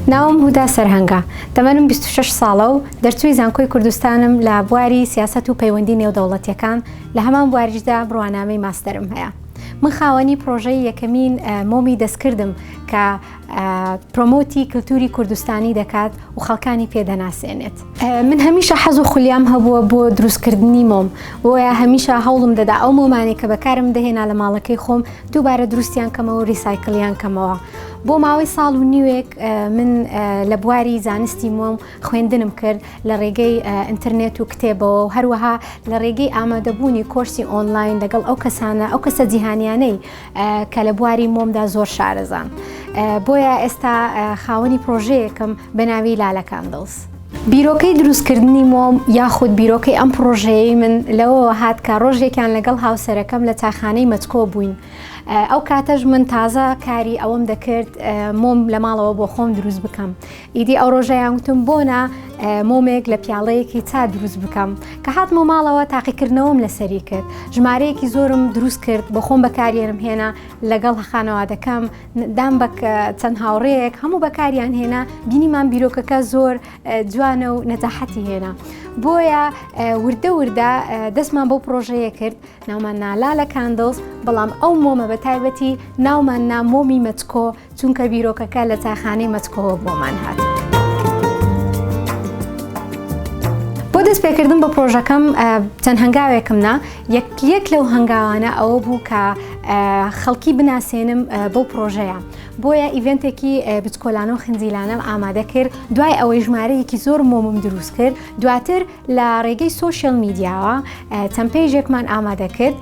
ناوم هودا سەرهەنگە تەمەنم 26 ساڵە و دەرچووی زانکۆی کوردستانم لە بواری سیاست و پەیوەندی نێودەوڵەتیەکان لە هەمان بواریشدا بڕوانامەی ماستەرم هەیە من خاوەنی پرۆژەی یەکەمین مۆمی دەستکردم کە پرۆمۆتی کلتوری کوردستانی دەکات و خەڵکانی پێدەناسێنێت من هەمیشە حەز و خولیام هەبووە بۆ دروستکردنی مۆم بۆیە هەمیشە هەوڵم دەدا ئەو مۆمانی کە بەکارم دەهێنا لە ماڵەکەی خۆم دووبارە دروستیان کەمەوە ریسایکلیان کەمەوە بۆ ماوەی ساڵ و نیوێک من لە بواری زانستی مۆم خوێندنم کرد لە ڕێگەی ئینتەرنێت و کتێبەوە و هەروەها لە ڕێگەی ئامادەبوونی کۆرسی ئۆنلاین لەگەڵ ئەو کەسانە ئەو کەسە جیهانیانەی کە لە بواری مۆمدا زۆر شارەزام بۆیە ئێستا خاوەنی پرۆژەیەکم بە ناوی لالە کاندڵز. بیرۆکەی دروستکردنی مۆم یاخود بیرۆکەی ئەم پڕۆژەیەی من لەوەوە هات کە ڕۆژێکیان لەگەڵ هاوسەرەکەم لە چاخانەی مەچکۆ بووین ئەو کاتەش من تازە کاری ئەوەم دەکرد مۆم لە ماڵەوە بۆ خۆم دروست بکەم ئیدی ئەو ڕۆژەیان وتم بۆ نا مۆمێک لە پیاڵەیەکی چا دروست بکەم کە هاتمە ماڵەوە تاقیکردنەوەم لەسەری کرد ژمارەیەکی زۆرم دروست کرد بە خۆم بەکارێنم هێنا لەگەڵ خانەوادەکەم دام بە چەند هاوڕەیەک هەموو بەکاریان هێنا بینیمان بیرۆکەکە زۆر جوانە و نەجاحەتی هێنا بۆیە وردە وردە دەستمان بۆ پرۆژەیە کرد ناومان نالا لە کاندڵز بەڵام ئەو مۆمە بە تایبەتی ناومان نامۆمی مەچکۆ چونکە بیرۆکەکە لە تاخانەی مەچکەوە بۆمان هات. بۆ دەست پێکردن بە پرۆژەکەم چەند هەنگاوێکم نا یەک لەو هەنگاوانە ئەوە بوو کە خەڵکی بناسێنم بەو پرۆژەیە بۆیە ئیڤنتێکی بچکۆلانە و خنجیلانەم ئامادە کرد دوای ئەوەی ژمارەیەکی زۆر مۆمم دروست کرد دواتر لە ڕێگەی سۆشیال میدیاوە چەند پێیژێکمان ئامادە کرد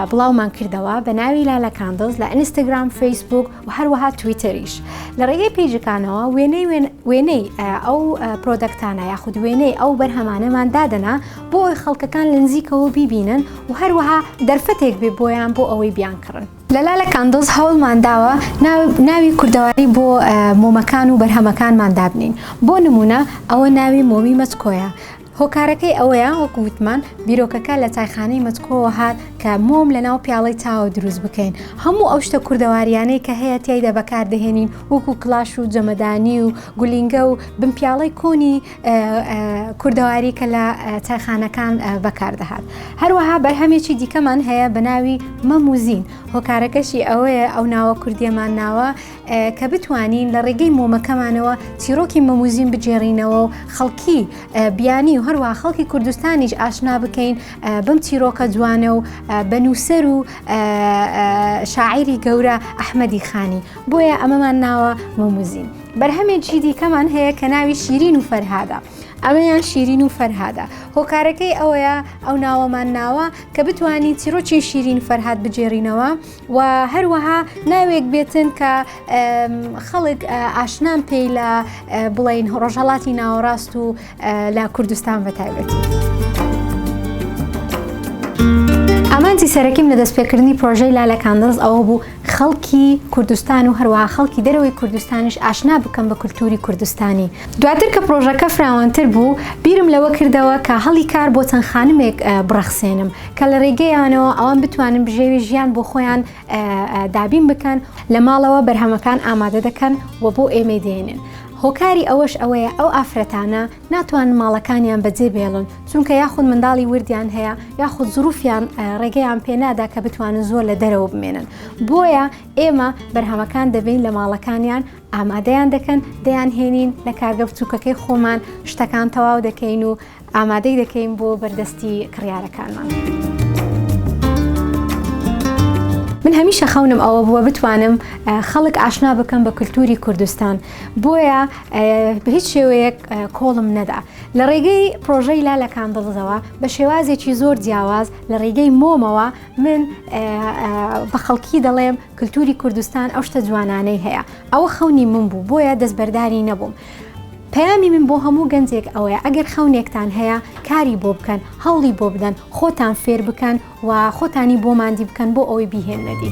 بڵاومان کردەوە بە ناوی لالە کاندڵز لە ئینستاگرام فەیسبوک و هەروەها تویتەریش لە ڕێگەی پێیجەکانەوە وێنەی وێنەی ئەو پرۆدەکتانە یاخود وێنەی ئەو بەرهەمانەمان دادەنا بۆ ئەوی خەڵکەکان لە نزیکەوە بیبینن و هەروەها دەرفەتێک بێ بۆیان بۆ ئەوەی بیان کڕن. لە لالە کاندڵز هەوڵمان داوە ناوی کوردەواری بۆ مۆمەکان و بەرهەمەکانمان دابنێین بۆ نموونە ئەوە ناوی مۆمی مەچکۆیە هۆکارەکەی ئەوەیە وەکو وتمان بیرۆکەکە لە چایخانەی مەچکۆوە هات کە مۆم لە ناو پیاڵەی چاوە دروست بکەین هەموو ئەو شتە کوردەواریانەی کە هەیە تیایدا بەکاردەهێنین وەکو کلاش و جەمەدانی و گولینگە و بنپیاڵەی کۆنی کوردەواری کە لە چایخانەکان بەکاردەهات هەروەها بەرهەمێکی دیکەمان هەیە بە ناوی مەموزین هۆکارەکەشی ئەوەیە ئەو ناوە کوردیەمان ناوە کە بتوانین لە ڕێگەی مۆمەکەمانەوە چیرۆکی مەموزین بگێڕینەوە و خەڵکی بیانی و هەروە خەڵکی کوردستانیش ئاشنا بکەین بم چیرۆکە جوانە و بە نووسەر و شاعری گەورە ئەحمەدی خانی بۆیە ئەمەمان ناوە مەموزین. بەرهەمێکی دیکەمان هەیە کە ناوی شیرین و فەرهادە ئەمەیان شیرین و فەرهادە هۆکارەکەی ئەوەیە ئەو ناوەمان ناوە کە بتوانین چیرۆکی شیرین فەرهاد بگێڕینەوە و هەروەها ناوێک بێتن کە خەڵک ئاشنان پێی لە بڵین ڕۆژهڵاتی ناوەڕاست و لە کوردستان بەتایبەتی. ئامانجی سەرەکیم لە دەستپێکردنی پرۆژەی لالەکاندز ئەوە بوو خەڵکی کوردستان و هەروەها خەڵکی دەرەوەی کوردستانیش ئاشنا بکەم بە کولتووری کوردستانی. دواتر کە پڕۆژەکە فراوانتر بوو، بیرم لەوە کردەوە کە هەڵی کار بۆ چەند خانمێک بڕەخسێنم کە لە ڕێگەیانەوە ئەوان بتوانن بژێوی ژیان بۆ خۆیان دابین بکەن، لە ماڵەوە بەرهەمەکان ئامادە دەکەن و بۆ ئێمەی دێنن، هۆکاری ئەوەش ئەوەیە ئەو ئافرەتانە، ناتوانن ماڵەکانیان بەجێ بێڵن چونکە یاخود منداڵی وردیان هەیە یاخود زروفیان ڕێگەیان پێنادا کە بتوانن زۆر لە دەرەوە بمێنن بۆیە ئێمە بەرهەمەکان دەبین لە ماڵەکانیان ئامادەیان دەکەن دەیان هێنین لە کارگە بچووکەکەی خۆمان شتەکان تەواو دەکەین و ئامادەی دەکەین بۆ بەردەستی کڕیارەکانمان. من هەمیشە خەونم ئەوە بووە بتوانم خەڵک ئاشنا بکەم بە کللتوری کوردستان بۆیە بە هیچ شێوەیەک کۆڵم نەدا لە ڕێگەی پرۆژەی لا لە کاندڵزەوە بە شێوازێکی زۆر جیاواز لە ڕێگەی مۆمەوە من بە خەڵکی دەڵێم کللتوری کوردستان ئەو شتە جوانانەی هەیە ئەوە خەونی من بوو بۆیە دەستبەرداری نەبووم. پەیامی من بۆ هەموو گەنجێک ئەوەیە ئەگەر خەونێکتان هەیە کاری بۆ بکەن هەوڵی بۆ بدەن خۆتان فێر بکەن و خۆتانی بۆ ماندی بکەن بۆ ئەوەی بیهێننە دی.